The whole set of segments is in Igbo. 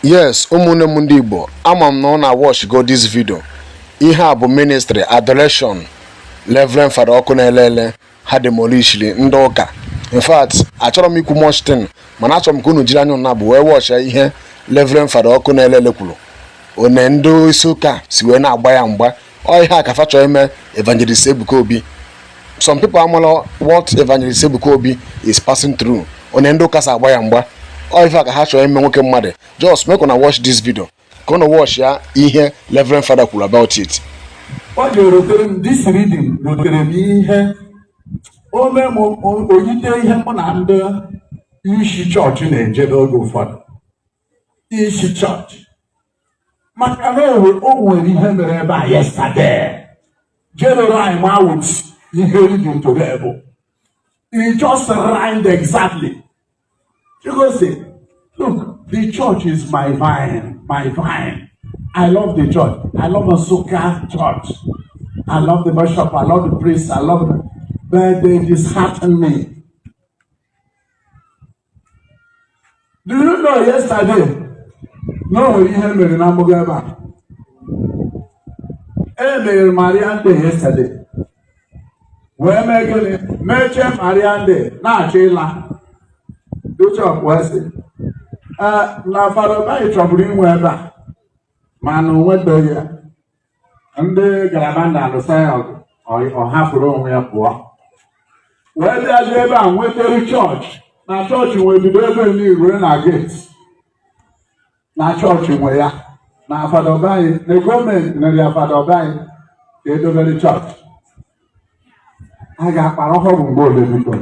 yes ụmụnne m ndị igbo ama m na ụna watch go this video ihe a bụ ministry adoration Reverend Fada Ọkụnerere ha demolishiri ndị ụka in fact achọrọ m ikwu much thing mana achọrọ m ka unu jiri anya ụna abụọ wee watch ihe Reverend Fada Ọkụnerere kwuru one ndị isi ụka si wee na-agba ya mgba ọ ihe a ka fa chọọ ime evangelist ebuka obi some people amala what evangelist ebuka obi is passing through one ndị ụka si agba ya mgba ọ ife a ka ha chọrọ ime nwoke mmadụ just make una watch this video ka unu watch ya ihe reverend father kwuru about it ọ ga-erotere m this reading rotere m ihe ome m oyite ihe mụ na ndị isi chọọchị na-eje oge ụfọdụ isi chọọchị maka na o nwere ihe mere ebe a yesterday general with ihe reading today it just rhymed exactly Chukwu sị look the church is my vine my vine i love the church i love Nsukka church i love the bishop i love the priest i love them but they dishearten me Do you know yesterday na o nwere ihe mere na mgbago ebe a? E mere Marian Day yesterday wee mee gịnị mechaa Marian Day na-achọ ịla Bishọp wee sị "Ee, na Fada Obayi chọburu inwe ebe a mana o nwetaghị ya ndị galaba na-alụsa ya ọgụ ọ- ọ hapụrụ onwe ya pụọ wee bịazie ebe a nwetara chọọchị na chọọchị nwe bido ebe nị rue na geti na chọọchị nwe ya na Fada Obayi na gọọmenti nyere ya Fada Obayi ka e dobere chọọchị a ga-akpara ọhụrụ mgbe ole biko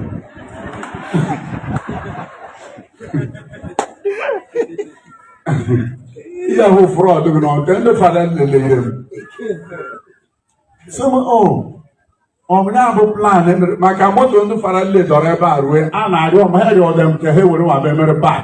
ihe ahụ frọd gị na ọdị ndị fada nile lee m sị m o ọ bụ ya bụ plan e mere maka moto ndị fada nile dọrọ ebe a rue a na-arịọ m ha rịọde m ka ha were nwa ebe a mere park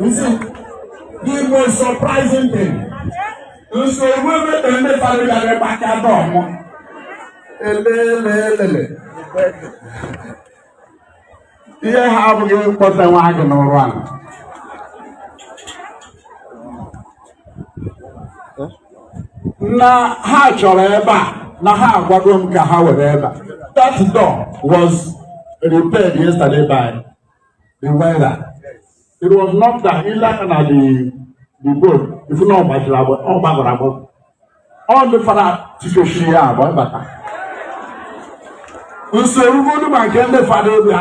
You see, the most surprising thing is the women in the family that are back at home. Elelelele. Ihe ha abụghị mkpọta nwa gị n'ụrụ a. na ha chọrọ ebe a na ha agwago m ka ha were ebe a that door was repaired yesterday by the welder it was not that ile aka na the the bolt ị fụ na ọ gbajiri agbọ ọ gbagọrọ agbagọ ndị fada tikechiri ya agba bata usoro ugbodu ma nke ndị fada bịa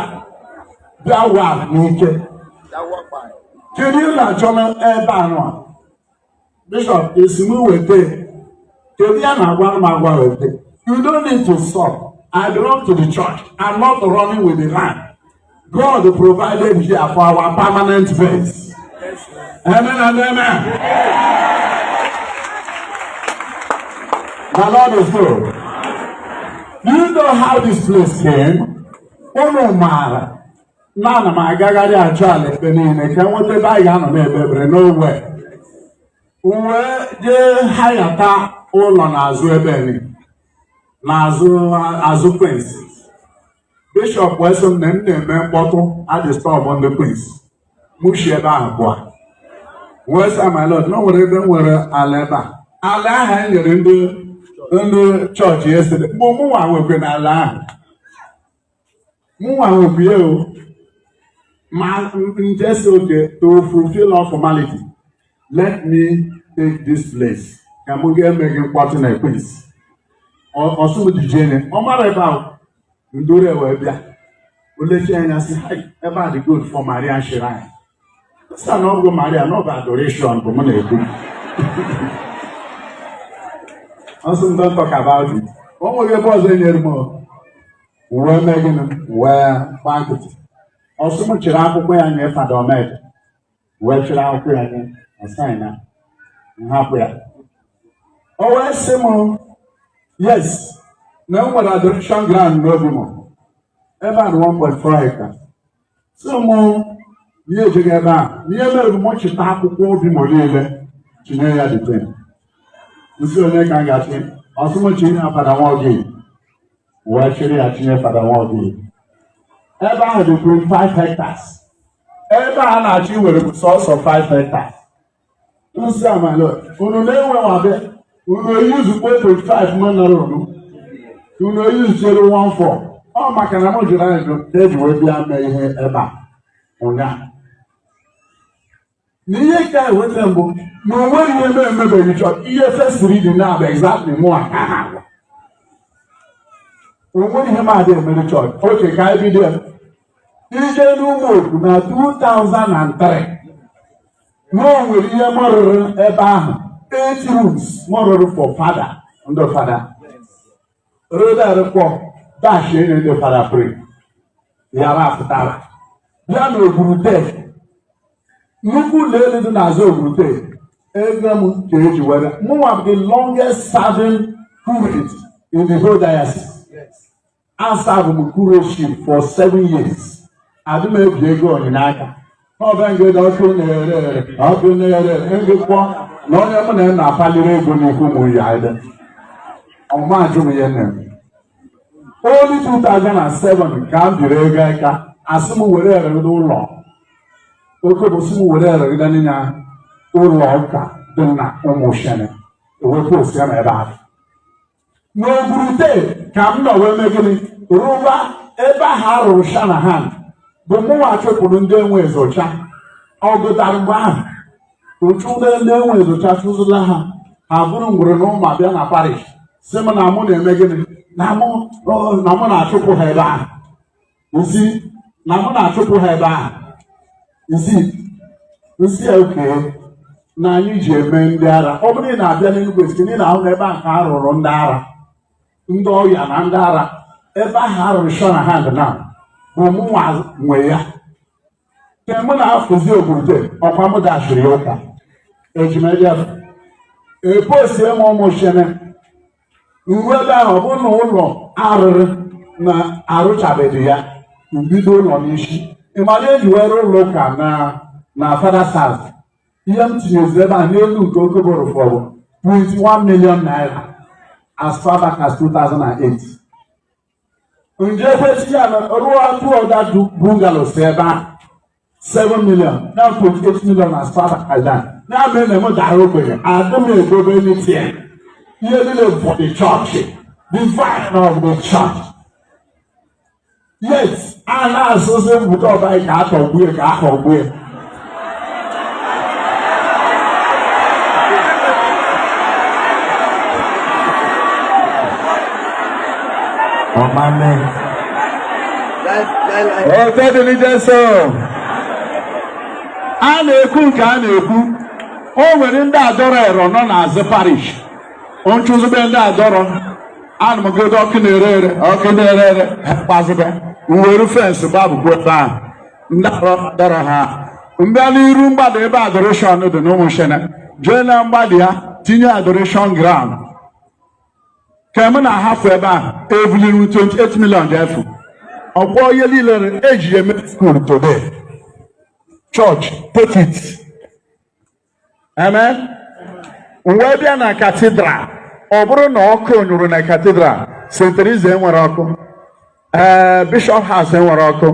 bịa wa n'ike kedu ihe na-achọ n'ebe anụ a bishọp asị m weta kedu ihe a na-agwa m agwa weta you don't need to stop i belong to the church i'm not running with the land God provided here for our permanent base. Amen and amen. The Lord is good. Do you know how this place came? Unu maara na ana m agagharị achọ ala ebe niile ka m nweta ebe anyị ga-anọ na-ekpe ekpere n'ogbe m wee jee hayata ụlọ n'azụ ebe ni n'azụ azụ Queens bishọp wee sị m na m na-eme mkpọtụ adịstọbụ ndị Queens mụ si ebe ahụ pụọ wee sị my lord na o nwere ebe m nwere ala ebe a ala ahụ e nyere ndị ndị chọọchị yesterday mụnwa nwekwe na ala ahụ mụnwa nwekwe ya o ma m jee sị okay to fulfill all formality let me take this place ka m ga-eme gị mkpọtụ na Queens ọ sị m dijene ọ mara ebe ahụ m duru wee bịa o lechie anya sị "Hai, ebe a dị good for Marian Shrine sị ya na ọ bụghị Maria na ọ bụ adoration bụ mụ na-ekwu ọ sị m don't talk about it o nweghị ebe ọzọ o nyere m o. wee mee gịnị wee gbaa nkịtị ọ sị m chịrị akwụkwọ ya nye fada Omeje wee chịrị akwụkwọ ya nye na saịn na m hapụ ya o wee sị m yes na m nwere adoration ground n'obi m ebe a dị 1.4 hekta ọ sị m ihe ejeghị ebe a ihe mere m chịta akwụkwọ obi m niile chinye ya dịte m sị onye ka m ga-achị ọ sị m chinye ya fada nwa oge wee chịrị ya chinye fada nwa oge ebe ahụ dị 25 hectares ebe a na-achọ iwere bụ sọsọ 5 hekta m sị my lord unu na-enwewabe unu eyuzu 4.5 mana rụrụ unu eyuzu chere 14 ọ maka na m jụrụ ajụ ka e ji wee bịa mee ihe ebe a ụnyaahụ na ihe ka ewute m bụ na o nweghị ihe mụ emebeghị chọọchị ihe first reading na abụ exactly mụwa ka ha agwa o nweghị ihe m adịghị emere chọọchị okay ka anyị bido ije n'ụmụ okwu na 2003 na o nwere ihe m rụrụ ebe ahụ eight rooms m rụrụ for fada ndị fada Rodar kpọ dash enye ndị fada pray yara apụtara ya na ogwurute nnukwu ụlọ elu dị n'azụ ogwurute ego m ka eji were mụnwa bụ the longest serving curate in the whole diocese asavụ m curateship for seven years adị m ebi ego onyinye aka ọbengede ọkụ na-ere ere ọkụ na-ere ngụkpọ na onye mụ na ya na-akpaliri ego n'ikwu mụ ya ede ọma ajụ m ya nne m only 2007 ka m biri ego aka asị m were eregide ụlọ oke bụ sị m were eregide n'ịnya ụlọ ụka dị na ụmụ shene ewee posie m ebe ahụ n'ogwurute ka m nọ wee mee gịnị rụba ebe ahụ a rụrụ shanahan bụ mụnwa chụpụrụ ndị enwe ezocha ọ gụtara mgbe ahụ ụchụ ndị ndị enwe ezocha chụzụla ha ha buru ngwere na mma bịa na parish sị m na mụ na-eme gịnị na mụ na mụ na-achụpụ ha ebe ahụ nsị na mụ na-achụpụ ha ebe ahụ nsị nsị okay na anyị ji eme ndị ara ọ bụrụ ị na-abịa n'Enugu State na ị na-ahụ na ebe ahụ ka a rụrụ ndị ara ndị ọya na ndị ara ebe ahụ a rụrụ shanahan na bụ mụnwa nwe ya ka mụ na afụzi ogwurute ọkwa mụ dashịrị ya ụka ejimebịa eposie m ụmụ shene nwe ebe ahụ bụ na ụlọ arụrụ na arụchabeghị ya mbido ụlọ n'isi ịmara eji were ụlọ ụka na father's house ihe m tinyezi ebe a n'elu nke ego bụrụ over 21 million naira as far back as 2008 njefesịa rụọ two other bungalows ebe ahụ 7 million na 28 million as far as that ya mere na m dara ogbenye adị m egobe n'itie ihe niile bụ the church the vine of the church yet a na-asụsị mbụta ọbayi ka atụgbue ya ka atụgbue ya ọ̀ma mẹ́. ọ̀tọ́ dị n'ije so a na-ekwu nke a na-ekwu o nwere ndị adọrọ ero nọ n'azụ parish nchụzụbe ndị adọrọ ana m godo ọkụ na-ere ere ọkụ na-ere ere kpazụbe nweru fence gbabụkwa ebe ahụ dọrọ ha mbịa n'iru mgbada ebe adoration dị n'ụmụ shene jee na mgbada ya tinye adoration ground ka m na-ahafụ ebe a ebuliru 28 million ji efu ọkwọ ihe niile eji eme school today church take it amen wee bịa na katidral ọ bụrụ na ọkụ nyụrụ na katidral St. Teresa enwerọ ọkụ ee Bishop House enwerọ ọkụ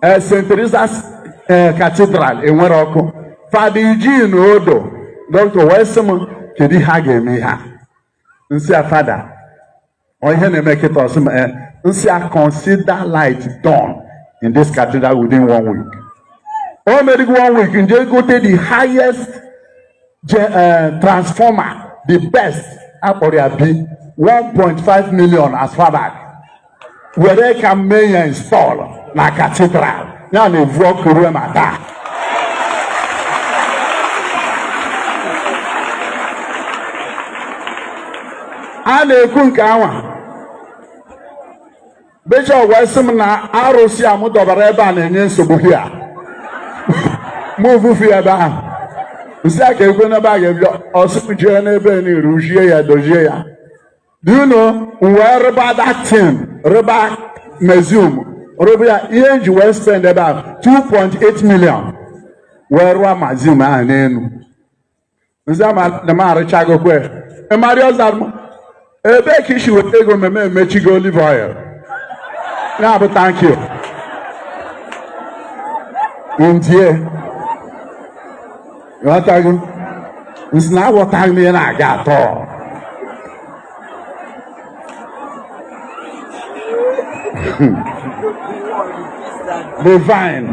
ee St. Teresa's ee katidral enwerọ ọkụ Fada Eugene Odo doctor wee sị m kedu ihe a ga-eme ihe a nsị a fada Ọ ihe na-eme kịta ọsị m eh, nsị a consider light done in this cathedral within one week. O medịghị one week nje gote the highest uh, transformer the best akpọrọ abi 1.5 million as far back were ka m mee ya install na cathedral. ya na-evu ọkụ ruo ma taa a na-ekwu nke anwa bishọp wee sị m na arụsị a m dọbara ebe a na-enye nsogbu hia mụ vufu ya ebe ahụ nsị a ka ekwe n'ebe a ga-ebi ọsị m jee n'ebe a n'iru jie ya dozie ya Do you know nwee rụba that thing rụba museum rụba ya ihe nji wee spend ebe a 2.8 million wee rụọ museum ahụ n'elu nsị a na m arụchagokwe ịmarị ọza m ebee ka isi weta ego mmemme emechigo olive oil ya bụ thank you ndie ghọtago nsị na aghọtaghị m ihe na-aga at all divine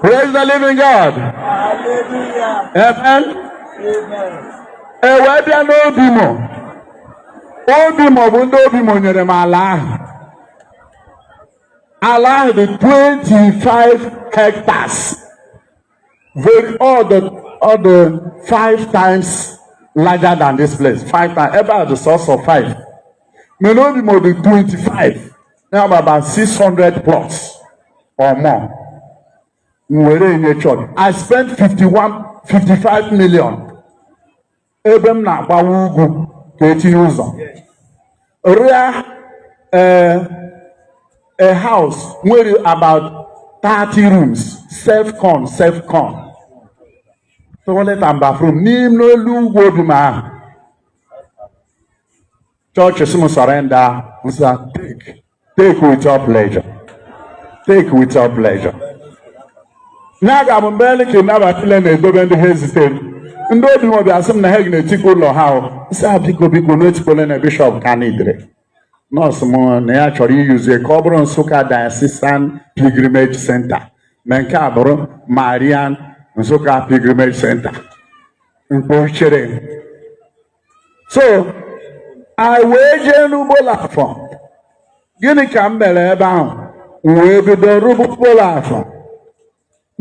praise the living god amen e wee bịa n'Obimo Obimo bụ ndị Obimo nyere m ala ahụ ala ahụ dị 25 hectares with all the all the five times larger than this place five times ebe a dị sọsọ five mana Obimo dị 25 ya bụ about 600 plots or more m were enye chọọchị i spent 51 55 million ebe m na-agbawa ugwu ka etinye ụzọ rụa ee eh, a house nwere about 30 rooms self con self con toilet and bathroom n'ime n'elu ugwu Obimo ahụ chọọchị sị m surrender m sị ha take take with your pleasure take with your pleasure na-aga m mgbe ele ka ịnaba file na-edobe ndị ha ezite ndị obimo bịa sị m na ha ga-etikpo ụlọ ha ahụ sị ha biko biko unu etikpole na bishọp ka na idere nọọsụ m na ya chọrọ iyuzie ka ọ bụrụ nsụka diocesan pilgrimage center na nke a bụrụ marian nsụka pilgrimage center mkpọchere so anyị wee jee n'obollo afọ gịnị ka m mere ebe ahụ m wee bido rụba obollo afọ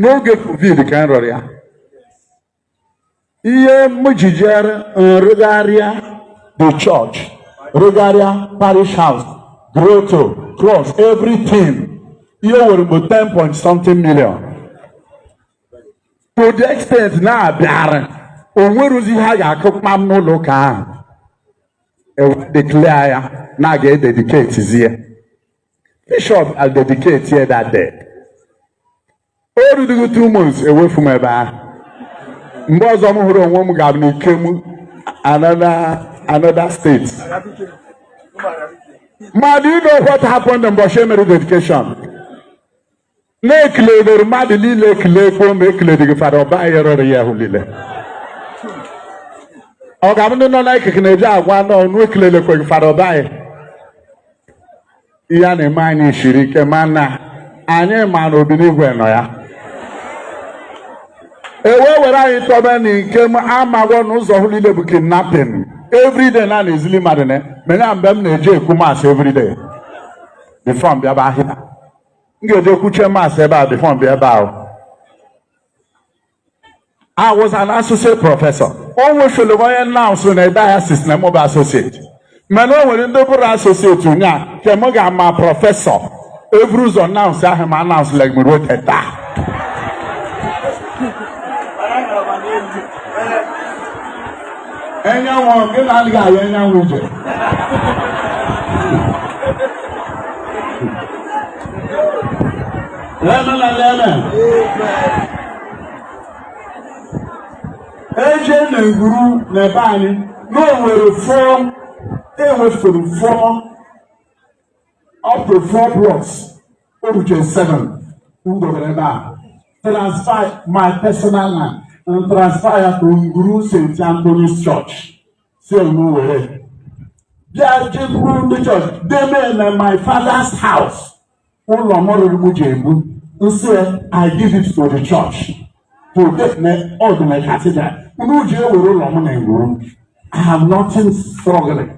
n'oge covid ka m rụrụ ya ihe m ji jere nrụgharịa the church rụgharịa parish house grotto cross everything ihe were bụ 10 point something million to the extent na-abịara o nwerozi ihe a ga-akụ kpam n'ụlọ ụka ahụ ewe declare ya na a ga-ededicate zie bishọp adedicate ya that day o rudugo two months ewefu m ebe ahụ mgbe ọzọ m hụrụ onwe m ga-abụ n'ikem another another state ma do you know what happened mbọchị emere dedication na-ekelere mmadụ niile ekele ekwo ma ekeledịghị fada obayi rụrụ ihe ahụ niile ọ ga-abụ ndị nọ n'ikike na-eji agwa na unu ekelele kweghị fada obayi ihe a na-eme anyị siri ike mana anyị ma na obinigwe nọ ya ewe were anyị tọbe n'ikem amagwọ na ụzọ ahụ niile bụ kidnapping everyday na na-ezili mmadụ na mena mgbe m na-eje ekwu mas everyday before m bịa ebe ahụ m ga-eje kwuche mas ebe a bifo m bịa ebe ahụ I was an associate professor. O nwefere onye announce na diocese na mụ bụ associate. Mana o nwere ndị bụrụ associate ụnyaa nke m ga-ama prọfesọ eburu ụzọ announce ha ma announcelegi m ruo teta. Enyanwụ gị na adịghị ahụ enyanwụ ije. Amen and amen. Eje na ngwuru na ebe anyị na o nwere fụọ ewefuru fụọ up to four blocks oruche seven m dobere ebe a transfer my personal land and transfer ya to nguru st anthony's church si emu were bịa jekwuru ndị church deme na my father's house ụlọ m rụrụ m ji ebu m sị i give it to the church to get me all the cathedral unu ji ewere ụlọ m na nguru i have nothing struggling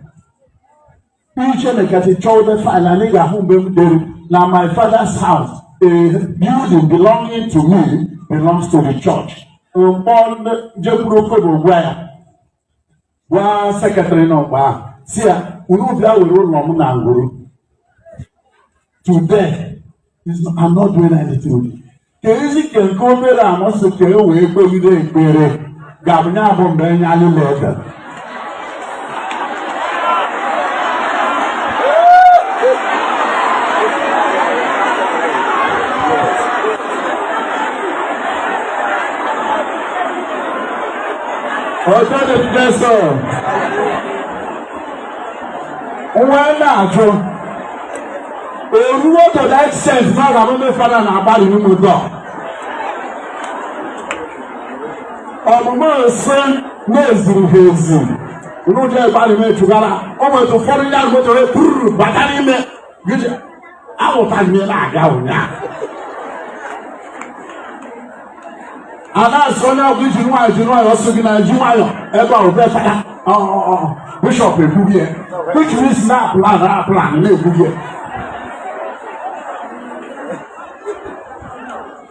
Uche mekati chọwụta faịlụ anyị ga-ahụ mgbe m dere na my father's house a building belonging to me belongs to the church. M kpọ ndị jekwuru Okobo gwa ya gwa sekretrị nọ mgbe ahụ sị ya unu bịa were ụlọ m na ngwuru Today is I'm not doing anything. Ka e zu ike nke obere a masị ka e wee kpegide ekpere ga-abụnye abụ mgbe enye anyị na-ede. Otito dịrị Jesu. wee na-ajụ eruo to the extent na ọ ga-abụ ndị fada na-agbalị n'ime ụdọ ọmụmụ nsị na-eziri ha ezi unu je agbalị na-echugara o nwetụ ụfọdụ ndị ahụ mechara ekwururu bata n'ime ahụta ihe na-aga ụnyaahụ a na-asị onye ọbụla jiri nwayọ ji nwayọ ọsọ gị na ji nwayọ ebe ọ bụ fada bishọp ekwughị ya which means na plan na plan na-ekwughị ya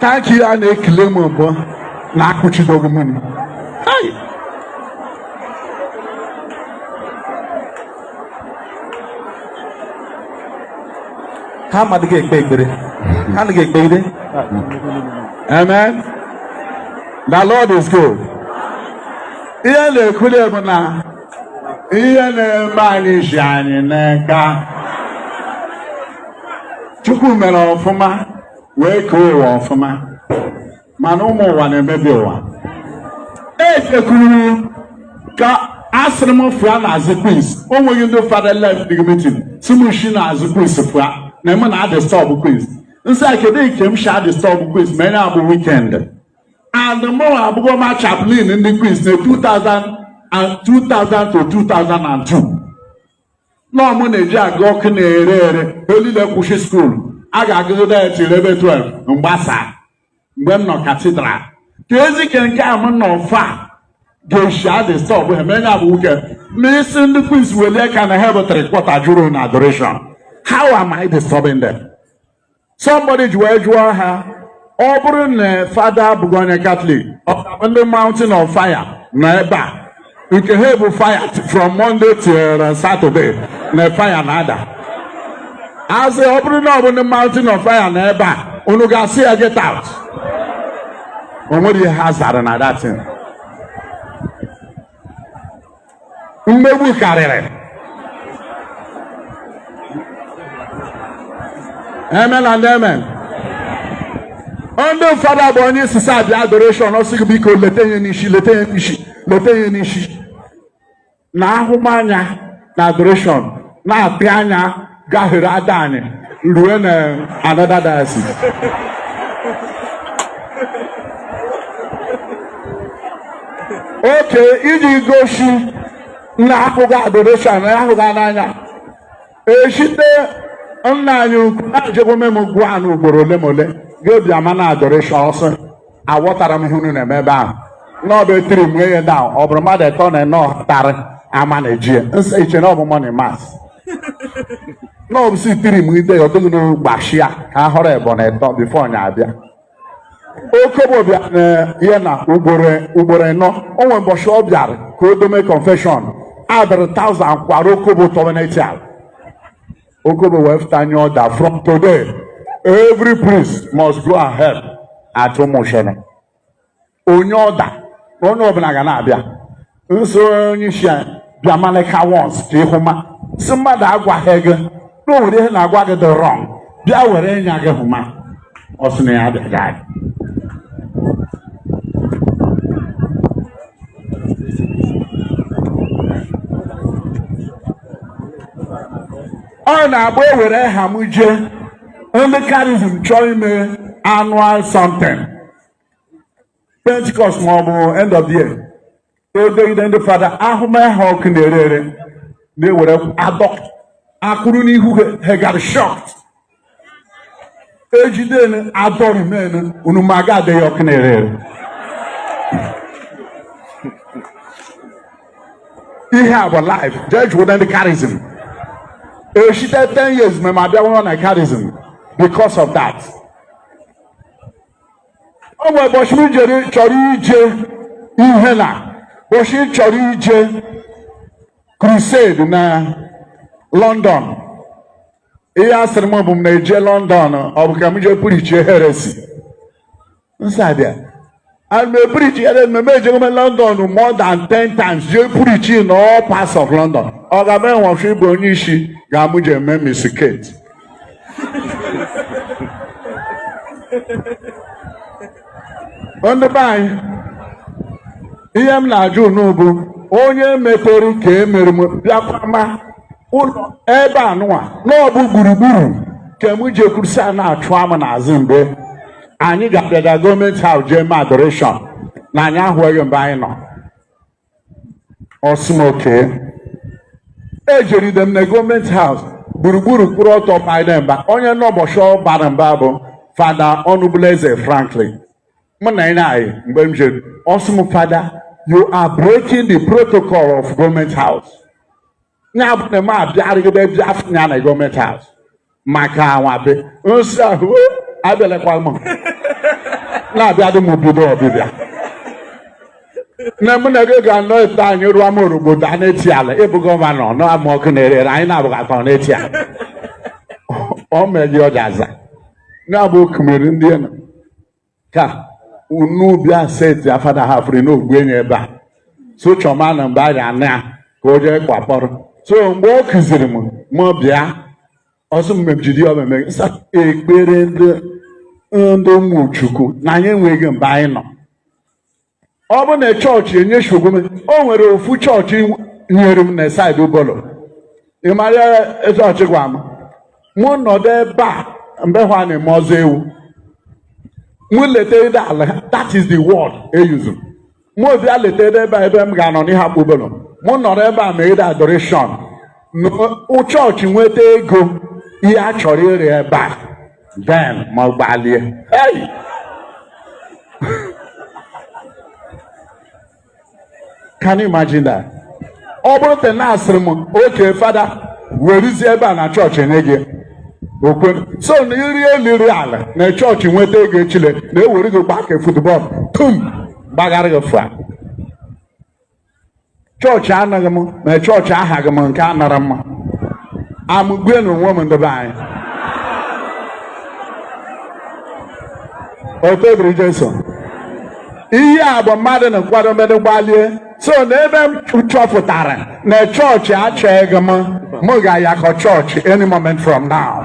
Thank you, Anne Kilemobo. Nakuchi Dogumuni. Hi. Ha mmadụ ga-ekpe ekpere. Ha na ga-ekpe ekpere. Amen. The Lord is good. Ihe na-ekwuli bụ na ihe na-eme anyị si anyị n'aka Chukwu mere ọfụma wee kee ụwa ọfụma mana ụmụ ụwa na-emebi ụwa e kekwuru ka asịrị m fụa na azụ Queens o nweghị ndị fada la-adịghị mitin sị m shi na azụ Queens fụa na m na-adịstọbụ Queens m sị ha kedu nke m shi adịstọbụ Queens ma enye abụ wikend and mụnwa abụgo ma chaplain ndị Queens na 2000 to 2002 nọọ mụ na-eji aga ọkụ na-ere ere olile kwụsị skuulu a ga-agụgide ya till ebe 12 mgbasa mgbe m nọ katidral ka ezi ke nke a m nọ far a ga-esi adistọbụ ha menye abụ weekend ma isi ndị Queens welie ka na ha bụ three quarter juru na adoration how am I disturbing them? somebody ji wee jụọ ha ọ bụrụ na fada abụghị onye katọlik ọ ndị mountain of fire nọ ebe a nke ha bụ fire from monday till saturday na fire na-ada a sị ọ bụrụ na ọ bụ ndị mountain of fire nọ ebe a unu ga-asị ya get out o nwere ihe ha zara na that thing mmegbu karịrị amen and amen ndị fada bụ onye isi sa bịa adoreshọn ọ sị gị biko leta ihe n'isi leta ihe n'isi leta ihe n'isi na ahụmanya na adoreshọn na-apị anya gahere Adani rue na another diocese oke iji gosi na ahụghị adoration na ahụghị n'anya eshite nna anyị ukwu na-ejegbo mem gwa na ugboro ole ma ole ga-ebi ama na adoration ọsọ aghọtara m ihe unu na-eme ebe ahụ na ọ bụ etiri m ihe na ọ bụrụ mmadụ eto na eno ọtarị ama na eji ya nsọ iche na ọ bụ morning mass na ọ bụ si tiri m ide ya ọdụghị n'ogbashi ya ka a họrọ ebo na eto bifo nya abịa Okobo bịa na ya na ugboro eno o nwere mbọchị ọ bịara ka o dome confession adịrị taụzand kwara Okobo tọweneti ala Okobo wee fụta nye ọda from today every priest must go and hear confession. O nye ọda na onye ọbụla ga na-abịa nso onye isi abịa malika once ka ị hụ ma si mmadụ agwaghị gị na o nwere ihe na-agwa gị dị wrong bịa were ịnya gị hụ ma ọ sị na ya abịaghị ọ na-abụ ewere ha m jee ndị karizm chọọ ime annual something pentikọst maọbụ end of the year edegide ndị fada ahụmahụ ọkụ na-ere ere na-ewere adọ akụrụ n'ihu ha gara shocked ejide adọrị men unu ma ga adịghị ọkụ na-ere ere ihe a bụ life judge wụda ndị karizm eshite 10 years ma ma bịara na karizm because of that o nwere ụbọchị m jere chọrọ ije ihe na ụbọchị m chọrọ ije crusade na London ihe a sịrị m bụ m na-eje London ọ bụ ka m jee preach heresy nsabịa ana m e-preach heresy mmemme ejego m London more than 10 times jee preach na all parts of London ọ ga-eme nwọfụ ịbụ onye isi ka mụ jee mee mistake ndị be anyị ihe m na-ajụ unu bụ onye metere ka e mere m bịakwa ma ụlọ ebe a nụwa na ọ bụ gburugburu ka m ji ekwuru sị a na-achụ m n'azụ mgbe anyị ga-abịaga government house jee mee adoration na anyị ahụghị mgbe anyị nọ ọ sị m okay ejeride m na government house gburugburu kwụrụ ọtọ mba onye nọ ụbọchị ọ bara m mba bụ fada ọnụbụleze franklin mụ na ya na-ayị mgbe m jere ọ sị m fada you are breaking the protocol of government house ya bụ na m abịarịgide bịa fụ ya na government house maka anwabe nsị ahụ o abịalekwa m na-abịa dị m bido ọbịbịa na mụ na gị ga-anọ ete anyị rụọ m orugbo daa n'eti ala ị bụ gọvanọ n'ama Ọkụnerere anyị na-abụghị akpa n'eti ala ọ meghị ọja aza na-abụ okumiri ndị nọ ka unu bịa seti afada ha fere n'ogbu enyi ebe a so chọma na mgbe a ga-ana ya ka o jee kwakpọrọ so mgbe ọ kụziri m mụ bịa ọ sị m jiri ọmeme sa ekpere ndị ndị ụmụchukwu na anyị enweghị mgbe anyị nọ ọ bụ na chọọchị enye shogome o nwere ofu chọọchị nyere m na side Obollo ị mara chọọchị gwa m mụ nọdụ ebe a mgbe ahụ a na-eme ọzọ ewu mụ letede ala that is the word e use mụ bịa letede ebe a ebe m ga-anọ n'Iheakpu Obollo mụ nọrọ ebe a meede adoration chọọchị nweta ego ihe a chọrọ ịrụ ebe a then mụ agbalie ei can you imagine that ọ bụrụ te na a sịrị m okay fada weruzie ebe a na chọọchị nye gị okwe so na iri eliri ala na chọọchị nweta ego echile na e were gị gbaa ka football tum gbagharị gị fụa chọọchị anaghị m ma chọọchị ahaghị m nke a nara mma amụgwe na onwe m ndị be anyị otito dịrị Jesu ihe a bụ mmadụ na nkwado mmadụ gbalie so n'ebe m chọpụtara na chọọchị achọghị m m ga-ayakọ chọọchị any moment from now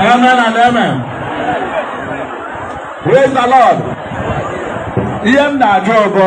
Amen and amen. Praise the Lord. Ihe m na-ajụ ọgọ